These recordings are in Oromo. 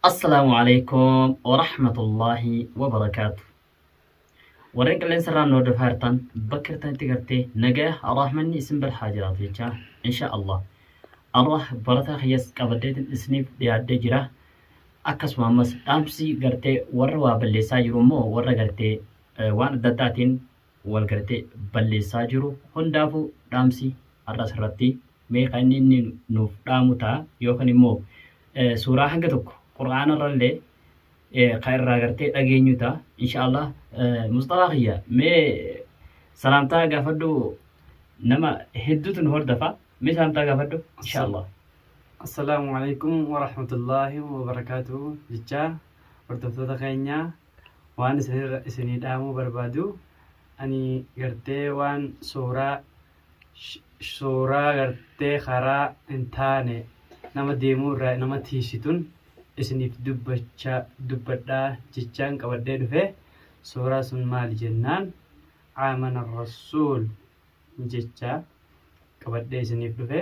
Assalaamu alaikum wa rahmatullahi wa barakaatu. Warreen qilleensa irraan nu hordofaa jirtan bakka jirtanitti gartee nagaya rahmanni isin bira haa jiraatu jechaa insha Allah. Allah barataa kiyyas qabaddeetiin isiniif dhiyaaddee jira. Akkasuma ammas dhaamsi gartee warra waa balleessaa jiru immoo warra gartee eh, waan adda addaatiin wal gartee balleessaa jiru hundaafu dhaamsi har'as irratti mee kan inni inni nuuf dhaamu ta'a yookan immoo suuraa hanga tokko qur'aana irrallee kan irraa gartee dhageenyu ta'a inshaallah musxafaa kiyya mee salaamtaa gaafadhu nama hedduutu nu hordafa mee salaamtaa gaafadhu inshaallah Assalaamu alaikum warahmatullaahi wabarakaatu jechaa hordoftoota keenyaa waan isinirra isinii dhaamuu barbaaduu ani gartee waan suuraa suuraa gartee karaa hin taane nama deemuu irraa nama tiisitun isiniif dubbachaa dubbadhaa jechaan qabadhee dhufe suuraa sun maali jennaan aamana rasuul jechaa qabadhee isiniif dhufe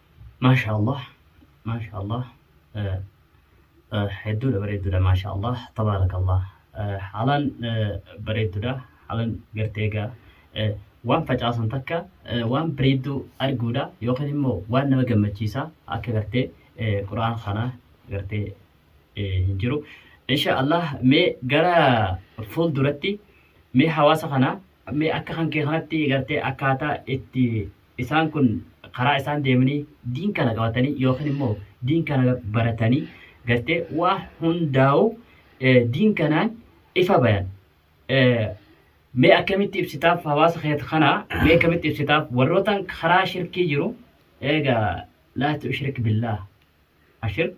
Maashaa Allah maashaa Allah hedduudha bareedduudha maashaa Allah tabaaraka Allah haalaan bareedduudha haalaan gartee egaa waan facaasan takka waan bareedduu arguudha yookaan immoo waan nama gammachiisaa akka gartee qura'aan kana gartee hin jiru. Insha Allah mee gara fuulduratti mee hawaasa kana mee akka kan kee kanatti gartee akkaataa itti isaan kun karaa isaan deemanii diin kana qabatanii yookiin immoo diin kana baratanii gartee waa hundaa'u eh, diin kanaan ifa bayan. Eh, Mee akkamitti ibsitaaf hawaasa keet kana mee akkamitti ibsitaaf warrootaan karaa shirkii jiru eegaa laa tushrik billaah ashirk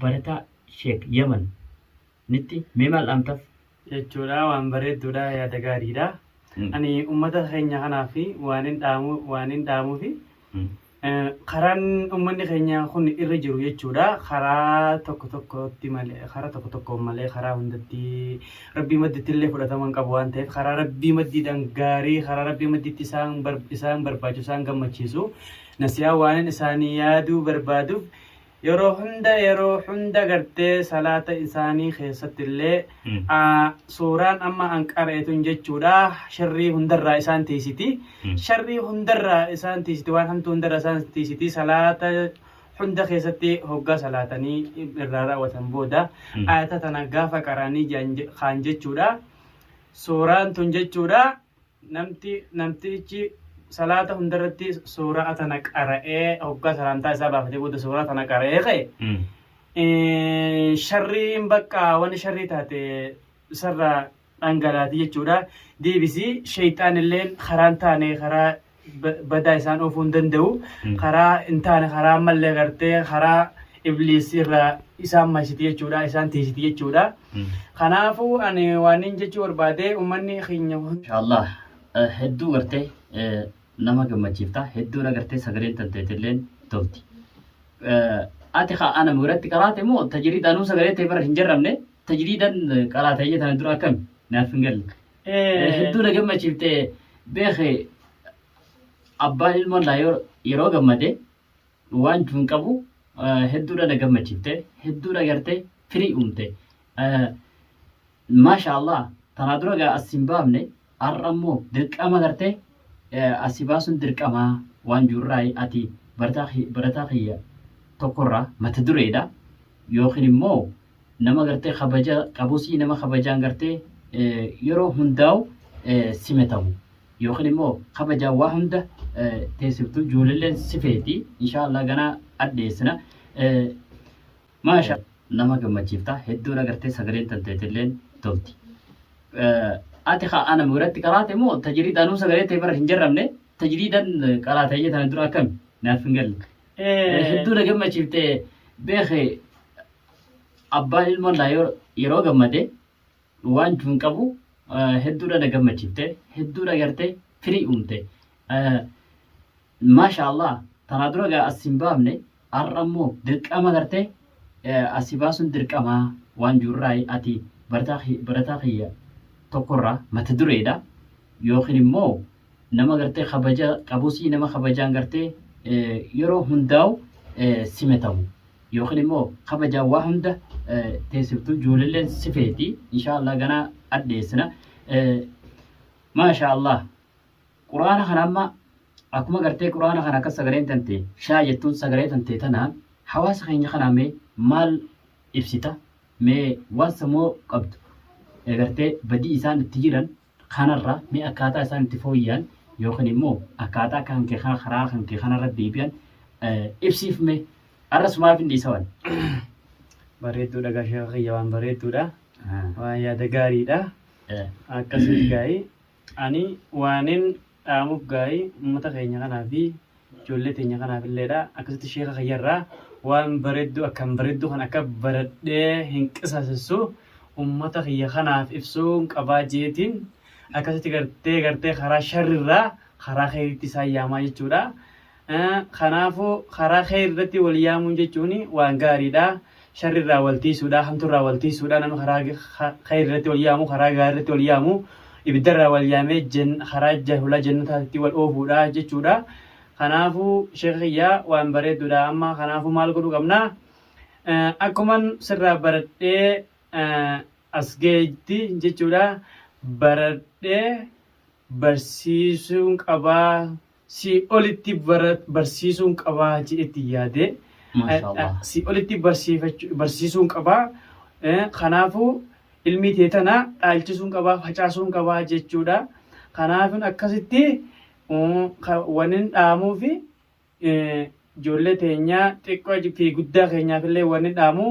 barataa sheek yaman nitti mee maal dhaamtaf? jechuudha waan bareedduudha yaada gaariidha ani ummata keenya kanaaf waanin dhaamu waanin dhaamuufi karaan ummanni keenya kun irra jiru jechuudha karaa tokko tokkotti malee karaa tokko tokkoon malee karaa hundatti rabbii madditti illee fudhatama hin qabu waan ta'eef karaa rabbii maddiidhaan gaarii karaa rabbii madditti isaan bar- isaan barbaachisu isaan gammachiisu nasiyaa waanin isaanii yaaduu barbaaduuf yeroo hunda yeroo hunda gartee salaata isaanii keessatti illee Mm. aa, suuraan amma an qara'etun jechuudha sharrii hundarraa isaan tiisiti Mm. sharrii hundarraa isaan tiisiti waan hamtuu hundarraa isaan tiisiti salaata hunda keessatti hoggaa salaatanii irraa raawwatan booda Mm. ayata tana gaafa qara'anii jedhan je- kaan jechuudha suuraan tun jechuudha Namti, namtichi, salaata hundarratti suuraa tana qara'ee hoggaa salaantaa isaa baafatee booda suuraa tana qara'ee ka'e Mm. eh, sharriin bakka wanni sharrii taate sarra dhangalaati jechuudha deebisii sheeyxaanilleen karaan taane karaa badaa isaan oofuu hin danda'u. Karaa hin taane karaa ammallee gartee karaa ibliis irraa isaan maysiti jechuudha isaan tiisiti jechuudha. Kanaafuu ani waan hin jechuu barbaade uummanni keenya Inshallah hedduu gartee nama gammachiifta hedduun agartee sagaleen tanteetilleen tolti. Ati haa ana biratti qaraate moo tajiriidhaan sagalee ta'e bara hin jarramne tajiriidhaan qaraate jedhan dura akkami naaf hin galle. Hedduu na gammachiifte beeke abbaan ilmoon laa yoo- yeroo gammade waan jechuu hin qabu eh, hedduudha na gammachiifte hedduudha gartee firii uumte Eh, maasha allah tanaa dura gaa as hin baafne har'a immoo dirqama gartee eh, asi baasuun dirqamaa waan jirurraa ati barataa ki- barataa kiyya tokkorraa mata dureedha yookiin immoo nama gartee kabaja qabusii nama kabajaan gartee yeroo hundaa'u simatamu yookiin immoo kabajaan waa hunda teessiftu ijoolleen sifeeti inshaallah ganaa addeessina maasha nama gammachiifta hedduun agartee sagaleen tanteetilleen tolti. Ati haa ana biratti qaraate moo tajiriidhaan sagalee ta'e bara hin jarramne tajiriidhaan qaraatee jedhan dura akkami naaf hin galle. Hedduu na gammachiifte beeke abbaan ilmoon naa yoo- yeroo gammade waan jechuu hin qabu eh, hedduudha na gammachiifte hedduudha gartee firii uumte Eh, maasha allah tanaa dura gaa as hin baafne har'a immoo dirqama gartee eh, asi baasuun dirqamaa waan jirurraa ati barataa ki- barataa kiyya tokkorraa mata dureedha yookiin immoo Nama gartee kabaja qabusii nama kabajaan gartee yeroo hundaa'u simatamu. Yookiin immoo kabajaan waa hunda teessiftu ijoolleen si feeti. Inshaallah ganaa addeessina. Maashaallah. Quraana kana amma akkuma gartee quraana kana akka sagaleen tante shaa jettuun sagalee tante tana hawaasa keenya kanaa mee maal ibsita mee waan samoo qabdu gartee badii isaan itti jiran Kanarra mee akkaataa isaan itti fooyya'an yookiin immoo akkaataa kan kee kana karaa kan kee kanarra deebi'an ibsiif mee arras maaf hin dhiisawan. Bareedduudha gaa sheeka kiyya waan bareedduudha. Waan yaada gaariidha. Akkasii gaa'ii ani waanin dhaamuuf gaarii ummata keenya kanaa fi ijoollee teenya kanaaf illeedha. Akkasitti sheeka kiyyarraa waan bareedduu akkaan bareedduu kan akka baradhee hin qisaasessu ummata kiyya kanaaf ibsuun qabaa jeetiin akkasitti gartee gartee karaa sharrirraa karaa keeritti isaan yaamaa jechuudha. Kanaafuu karaa kheyri irratti wal yaamuun jechuun waan gaariidha. Sharri irraa wal tiisuudha, hamtu irraa wal tiisuudha. Namni karaa kheyri irratti wal yaamu, karaa gaarii irratti wal yaamu ibidda irraa wal yaamee karaa jahulaa jannataatti wal oofuudha jechuudha. Kanaafuu sheekha kiyya waan bareedduudha. Amma kanaafuu maal godhuu qabna? Akkuman sirraa baradhee as gahetti jechuudha baradhee barsiisuun qabaa sii olitti bara- barsiisuun qabaa jedhetti yaadee Maashaallah. sii olitti barsiifachu- barsiisuun qabaa Eh, kanaafuu ilmii tee tana dhaalchisuun qabaa facaasuun qabaa jechuudha kanaafin akkasitti mm, ka- wanin dhaamuufi Ijoollee teenyaa xiqqoo fi guddaa keenyaaf illee wanni dhaamu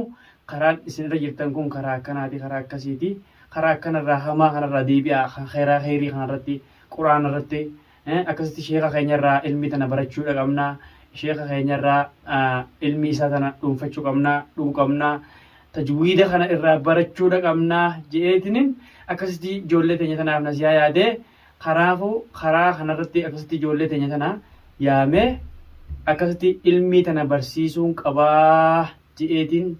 karaan isin irra jirtan kun karaa akkanaati karaa akkasiiti karaa akkanarraa hamaa kanarraa deebi'aa kan khayraa khayrii kanarratti quraana irratti akkasitti sheeka keenyarraa ilmii tana barachuudha qabna sheeka keenyarraa ilmii isaa tana dhuunfachuu qabna dhuu qabna tajwiida kana irraa barachuudha qabna je'eetiniin akkasitti ijoollee teenya tanaaf nasiyaa yaadee Kanaafuu karaa kanarratti akkasitti ijoollee teenya tana yaamee akkasitti ilmii tana barsiisuun qabaa je'eetiin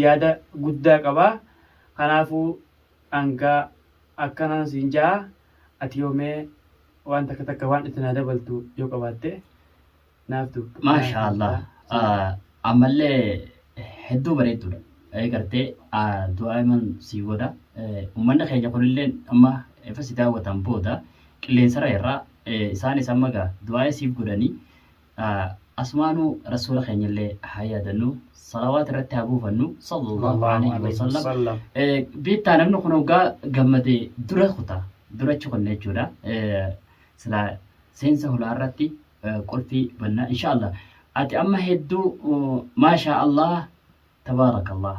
yaada guddaa qaba. Kanaafuu hanga akkanan siin ja'a ati yoomee waan takka takka waan itti naa dabaltu yoo qabaatte. Naaf dubbadhu. Maashaa Allah. Ah, Ammallee hedduu bareedduudha. Eh, Gartee ah, du'aa iman sii godha. Eh, Uummanni keenya kunillee amma efa si daawwatan booda qilleensarra irraa eh, isaanis amma gaa du'aa siif godhanii ah, asumaanuu rasuula keenyallee haa yaadannu salawaat irratti haa buufannu sallallahu alaihi wasallam. Eh, Biittaa namni kun hoggaa gammadee dura kuta durachi kunne jechuudha. Eh, Silaa seensa hulaa irratti qulfii bannaa inshaallah ati amma hedduu maashaa allah tabaarakallah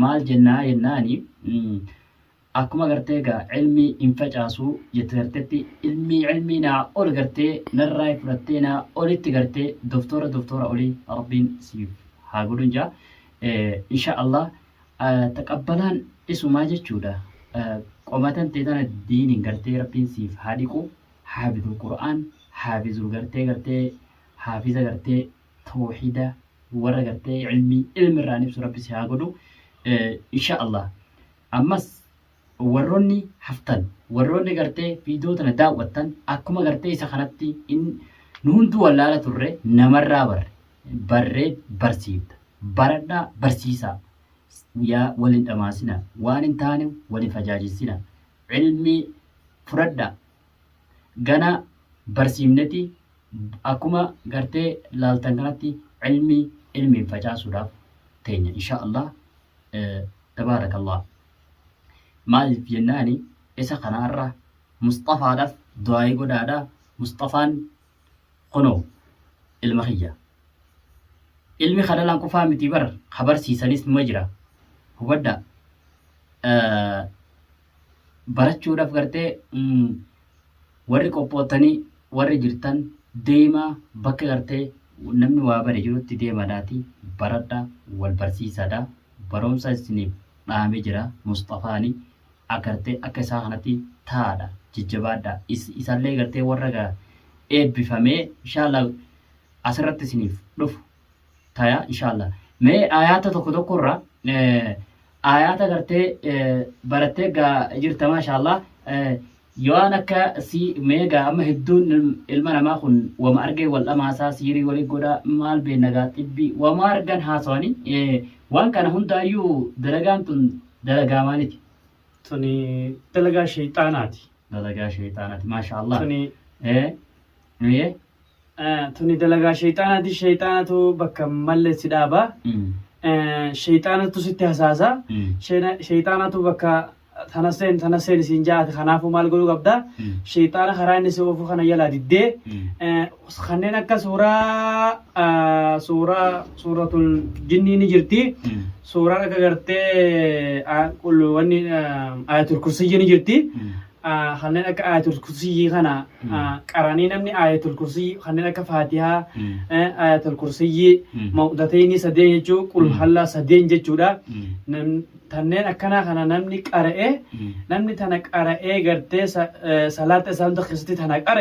maal jennaa jennaani akkuma gartee egaa ilmii hin facaasuu jette gartetti ilmii ilmii naa ol gartee narraa fudhattee naa olitti gartee doktora doktora olii rabbiin siif haa godhun jaa insha allah taqabbalaan isumaa jechuudha qomatan teetana diiniin gartee rabbiin siif haa dhiqu haabidul qur'aan haabizul gartee gartee haafiza gartee toohida warra gartee ilmii ilmi irraan ibsu rabbi si haa godhu insha allah ammas warroonni haftan warroonni gartee viidiyoo tana daawwattan akkuma gartee isa kanatti in nu hunduu wallaala turre namarraa barre barree barsiifta baradhaa barsiisaa yaa waliin dhamaasina waan hin taane waliin fajaajessina ilmi fudhadha gana barsiifneti akkuma gartee laaltan kanatti ilmi ilmiin facaasuudhaaf teenya insha Allah tabaarakallah maaliif jennaani isa kanaarra musxafaadhaaf du'aayii godhaadha musxafaan kunoo ilma kiyya ilmi ka dhalan qofaa miti bar ka barsiisanis numa jira hubadha barachuudhaaf gartee warri qophoottanii warri jirtan deemaa bakka gartee namni waa bare jirutti deemadhaati baradha wal barsiisaadha barumsa isiniif dhaame jira musxafaani agartee akka isaa kanatti taadha jajjabaadhaa is isallee gartee warra gaa eebbifamee inshaalla asirratti isiniif dhufu taya inshaalla mee ayaata tokko tokko irra eh, ayaata gartee eh, barattee gaa jirta maashaallah eh, Yoo an akka sii meegaa amma hedduun ilma namaa kun wama argee wal dhamaasaa siirii wali godhaa maal beenna gaa xibbii wama argan haasawani waan kana hundaayyuu dalagaan tun dalagaa maaliti. Tuni dalagaa sheyxaanaati. Dalagaa sheyxaanaati maasha Allah. Tuni Ee. Tuni dalagaa sheyxaanaati sheyxaanatu bakka malle si dhaaba. Sheyxaanatu sitti hasaasa. Sheyxaanatu bakka tana seen tana seen isiin ja'aati kanaafuu maal godhuu qabda sheexaana karaa inni si oofuu kana jalaa diddee eh, kanneen akka suuraa ah, suuraa suuratul jinnii ni jirti suuraan akka gartee ah, qul- wanni ah, ayatul kursiyyi ni jirti Ah, kanneen akka ayatul kursiyyi kana ah, qaranii namni ayatul kursiyyi kanneen akka faatihaa eh, ayatul kursiyyi Mm. mawdatayni sadeen jechuu qul hallaa sadeen jechuudha Nam- tanneen akkanaa kana namni qara'ee namni tana qara'ee gartee salaata isaa hunda keessatti tana qara'e